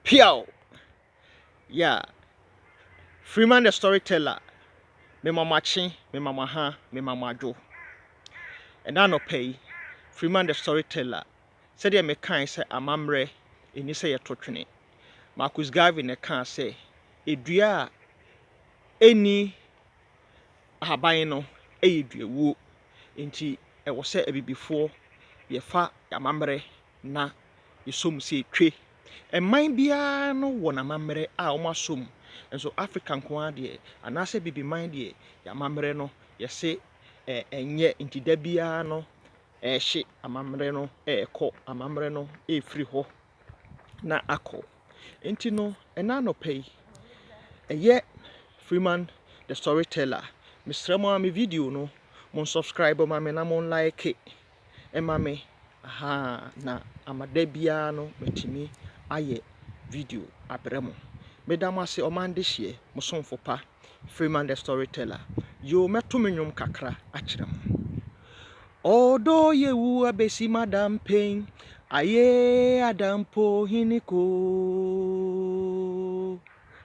Peaw! Yeah! Freeman the Storyteller, mema mo akye, mema mo aha, mema mo adwo. Ɛna anɔpa yi, Freeman the Storyteller, sɛdeɛ mekae sɛ amammerɛ ɛni sɛ yɛto twene. Marcus Garvey na ɛkaa sɛ, Dua a ɛnni ahaban no yɛ duawuo. Enti ɛwɔ sɛ abibifoɔ yɛfa amammerɛ na yɛsɔ mu sɛ etwe. Ɛman biara no wɔ n'amammerɛ a wɔn asɔ mu. Nso Africa nko ara deɛ anaasɛ Abibiman deɛ yɛn amammerɛ no yɛse ɛnyɛ nti da biara no ɛrehye amammerɛ no ɛrekɔ, amammerɛ no ɛrefiri hɔ na akɔ. Nti no ɛna anɔpa yi ɛyɛ Freeman the storyteller mesrɛ mo ara me video no mo subscribe ma me na mo like. ma me, ahaa, na ama da biara no matumi ayɛ video abrɛ mo. Meda mo ase ɔman dehyeɛ, mo somfo pa, Freeman the Storyteller. Yoo, mɛto me nnwom kakra akyerɛ mo. Ɔdɔ yɛ wu abɛsi madam pain, ayee adampo hene koo.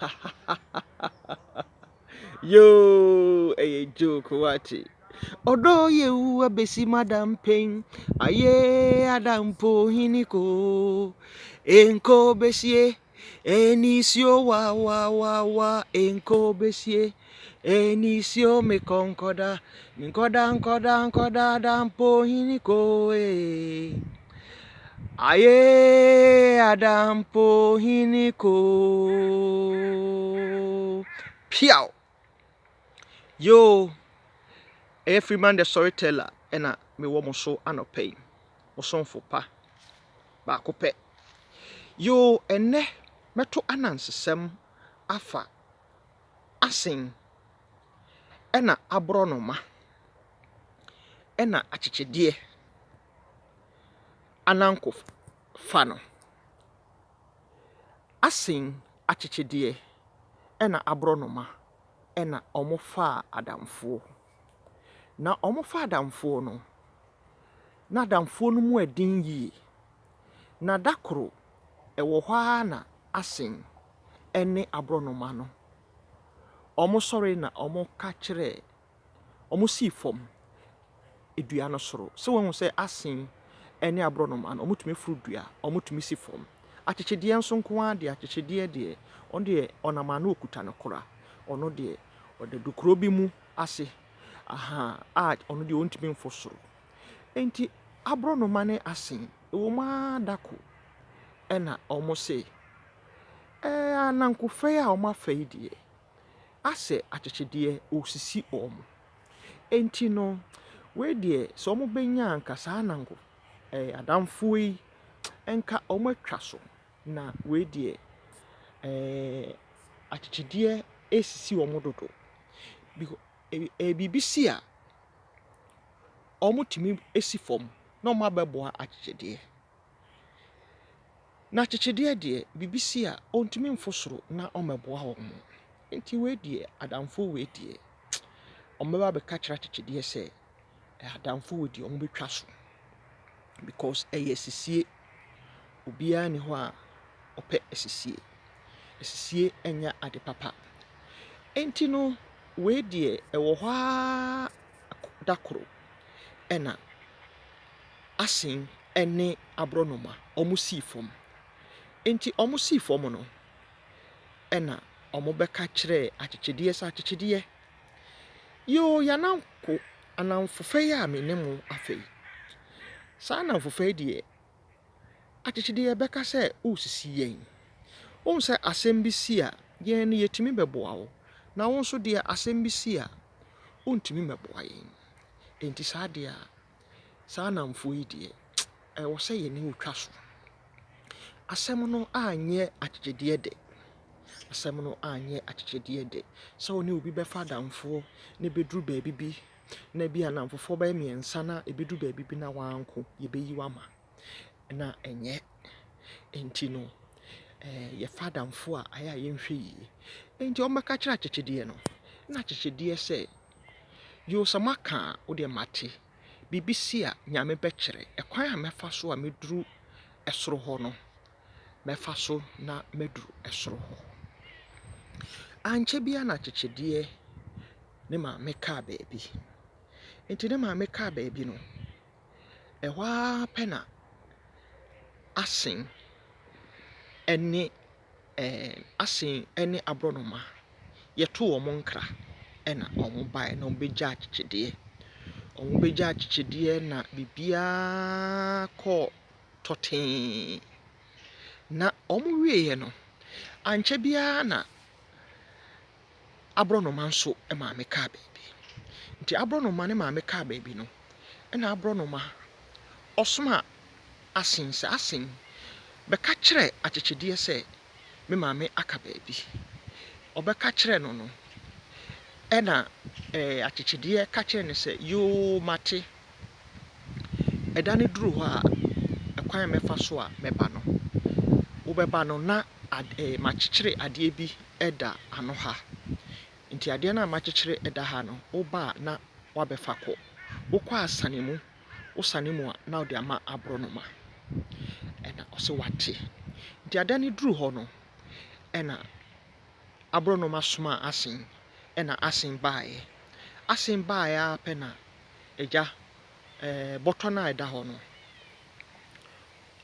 Hahahahaha yoo ɛyɛ joke wate. Ɔdɔ yɛ wu abɛsi madam pain ayee adam po hini koo enkobesie ɛnisuo wawawawa enkobesie. Enisio me kɔ nkɔda me nkɔda nkɔda nkɔda da mpo hini ko ee Aye ada mpo hini ko Piaw Yo ɛyɛ Freeman the Storyteller ɛna mewɔ mo so anɔpa yi mo somfo pa baako pɛ Yo ɛnɛ mɛto anansesɛm afa asen na aborɔnoma na akyekyedeɛ ananko fa no. Asen, akyekyedeɛ na aborɔnoma na wɔfa adamfoɔ. Na wɔfa adamfoɔ no, na adamfoɔ no mu yɛ den yie. Na da koro ɛwɔ hɔ ara na Asen ne aborɔnoma no, wɔsɔre na wɔka kyerɛɛ, wɔsii fam dua no soro. Sɛ woahu sɛ Asen ne aborɔnoma no, wɔtumi foro dua, wɔtumi si fam. Akyekyedeɛ nso nko ara deɛ, akyekyedeɛ deɛ, ɔno deɛ ɔnam a na ɔkuta ne kora. Ɔno deɛ, ɔda dukuro bi mu ase, ahaa, a ɔno deɛ ɔntumi mforo soro. Enti aborɔnoma ne asen, ɛwom ara da ko na wɔse, Ɛɛ, anankofɛe a wɔafa yi deɛ, asɛ akyekyedeɛ resisi wɔn. Enti no, wei deɛ, sɛ wɔbɛnya anka saa ananko ɛɛ adamfoɔ yi nka wɔatwa so, na wei deɛ, ɛɛ akyekyedeɛ resisi wɔn dodo. Biko ɛɛ biribi si a. wɔtumi si fam na wɔabɛboa akyekyedeɛ. Na akyekyedeɛ deɛ, biribi si a, wɔntumi mforo soro na wɔmmɛboa wɔn. Nti wei deɛ, adamfo wei deɛ, wɔbɛba abɛka akyerɛ akyekyedeɛ sɛ, adamfo wei deɛ, wɔbɛtwa so because ɛyɛ asisie. Obiara nni hɔ a ɔpɛ asisie. Asisie nyɛ ade papa. Nti no, wei deɛ, ɛwɔ hɔ ara da koro na Asen ne aborɔnoma sii fam. Enti wɔsii fam no, ɛnna wɔbɛka kyerɛɛ akyekyedeɛ sɛ, Akyekyedeɛ, yoo yɛn anamfo, anamfofa yi a me ne mo afa yi, saa anamfofa yi deɛ, Akyekyedeɛ yɛbɛka sɛ woresisi yɛn. Wohu sɛ asɛm bi si a, yɛn no yɛtumi bɛboa wo. Na wo nso deɛ asɛm bi si a, wontumi mmɛboa yɛn. Enti saa adeɛ a, saa nnamfoɔ yi deɛ, ɛwɔ sɛ yɛne wɔtwa so. Asɛm no anyɛ akyekyedeɛ dɛ. Asɛm no anyɛ akyekyedeɛ dɛ. Sɛ wo ne obi bɛfa adamfoɔ na ɛbɛduru baabi bi na ebi a nnamfofoɔ bɛyɛ mmiɛnsa na ɛbɛdu baabi bi na wanko, yɛbɛyi wo ama. Na ɛnyɛ. Enti no, eh, yɛfa adamfo a, ayɛ a yɛnhwɛ yie. Enti wɔbɛka kyerɛ akyekyedeɛ no, na akyekyedeɛ sɛ, Yoo, sɛ moaka a, wo deɛ mate. Biribi si a, Nyame bɛkyerɛ. Ɛkwan a mɛfa so a mɛduru ɛsoro hɔ no, mɛfa so na maduru ɛsoro hɔ. Ankyɛ biara na akyekyedeɛ ne maame kaa baabi. Enti ne maame kaa baabi no, ɛhɔ ara pɛ na Asing ne ɛɛ Asing ne aborɔnoma yɛtoo wɔn nkra, ɛnna wɔbaeɛ na wɔbɛgyaa akyekyedeɛ. Wɔbɛgyaa akyekyedeɛ na biribiara kɔɔ tɔtee. Na wɔwieeɛ no, ankyɛ biara na . aborɔnoma nso maame kaa baabi. Nti aborɔnoma ne maame kaa baabi no, ɛnna aborɔnoma ɔsomaa Asen sɛ, Asen, bɛka kyerɛ Akyekyedeɛ sɛ me maame aka baabi. Ɔbɛka kyerɛɛ no no, ɛnna Akyekyedeɛ ka kyerɛɛ no sɛ, Yoo, mate. Ɛda no duru hɔ a, ɛkwan a mɛfa so a mɛba no, wobɛba no na ade makyekyere adeɛ bi da ano ha. Nti adeɛ no a makyekyere da ha no, woba a na woabɛfa kɔ. Wokɔ a sane mu, wosane mu a na wode ama aborɔnoma. Ɛnna ɔse wate. Nti ada no duru hɔ no, ɛnna aborɔnoma somaa Asen, ɛnna Asen baeɛ. Asen baeɛ ara pɛ na agya, ɛɛ bɔtɔ no a ɛda hɔ no,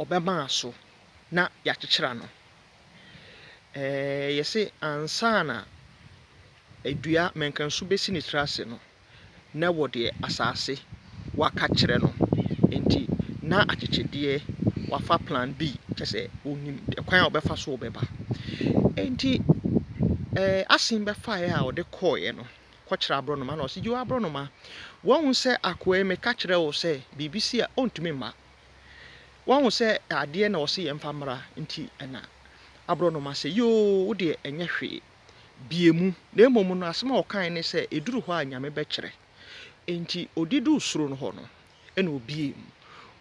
ɔbɛmaa so na yɛakyekyere ano. Ɛɛ yɛse ansa na dua mmɛnkansu bɛsi ne tiri ase no, na wɔ deɛ asaase waka kyerɛ no nti na akyekyedeɛ wafa plan B kyerɛ sɛ ɔnim kwan a ɔbɛfa so ɔbɛba nti ɛɛ asen bɛfaeɛ a ɔde kɔeɛ no kɔkyerɛ aborɔnoma na ɔsi gyewa aborɔnoma wɔn sɛ akoa yi meka kyerɛ wo sɛ biribi si a ɔntumi mma wɔn sɛ adeɛ na ɔsi yɛn fa mmra nti ɛna aborɔnoma sɛ yoo wodeɛ ɛnyɛ hwee. bie mu, na mmom no asɛm a ɔkae ne sɛ, Ɛduru hɔ a Nyame bɛkyerɛ. Enti ɔde duu soro no hɔ no, ɛna ɔbiee mu.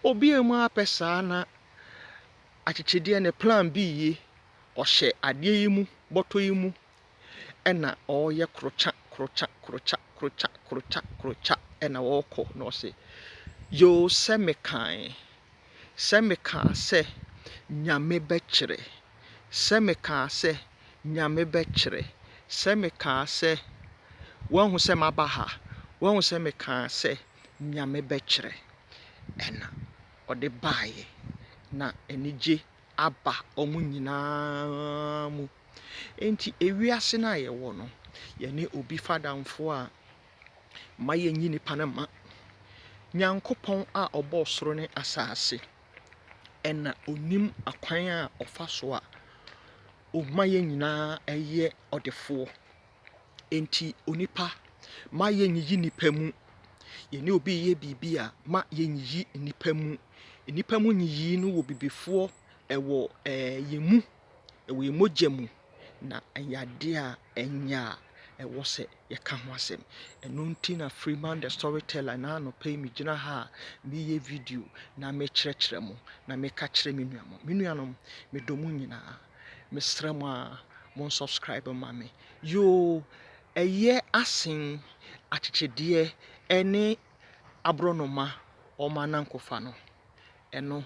Ɔbiee mu ara pɛ saa na akyekyedeɛ ne plan bi ye, ɔhyɛ adeɛ yi mu, bɔtɔ yi mu, ɛna ɔreyɛ krokya, krokya, krokya, krokya, krokya, krokya, ɛna ɔrekɔ, na ɔse, Yoo, sɛ mekae, sɛ mekaa sɛ Nyame bɛkyerɛ, sɛ mekaa sɛ Nyame bɛkyerɛ. Sɛ mekaa sɛ, Woahu sɛ maba ha? Woahu sɛ mekaa sɛ, Nyame bɛkyerɛ? Ɛna ɔde baeɛ, na anigye aba wɔn nyinaa mu. Enti ewiase no a yɛwɔ no, yɛne obi fa adamfoɔ a, mma yɛnyi nnipa no mma. Nyankopɔn a ɔbɔɔ soro ne asaase, na ɔnim akwan a ɔfa so a ɔma yɛn nyinaa yɛ ɔdefoɔ. Enti onipa, mma yɛnyiyi nnipa mu. Yɛne obi reyɛ biribi a, mma yɛnyiyi nnipa mu. Nnipa mu nyiyii no wɔ bibifoɔ, ɛwɔ ɛɛ yɛn mu. Ɛwɔ yɛn mogya mu, na ɛyɛ adeɛ a ɛnyɛ a ɛwɔ sɛ yɛka ho asɛm. Ɛno nti na Freeman the Storyteller, ɛnnɛ anɔpa yi megyina ha a mereyɛ video na merekyerɛkyerɛ mo na mereka kyerɛ me nuanom. Me nuanom, medɔ mo nyinaa. Mesrɛ mo a mo subscribe ma me. Yoo, ɛyɛ asen akyekyedeɛ ne aborɔnoma wɔn anankofa no. Ɛno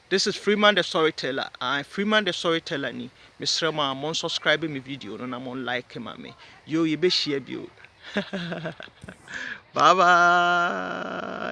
This is Freeman the Storyteller aah Freeman the Storyteller ni mesrɛ mo aa mo nsɔscribe me video no na mo like ma me yoo yɛbɛhyia bio bye bye.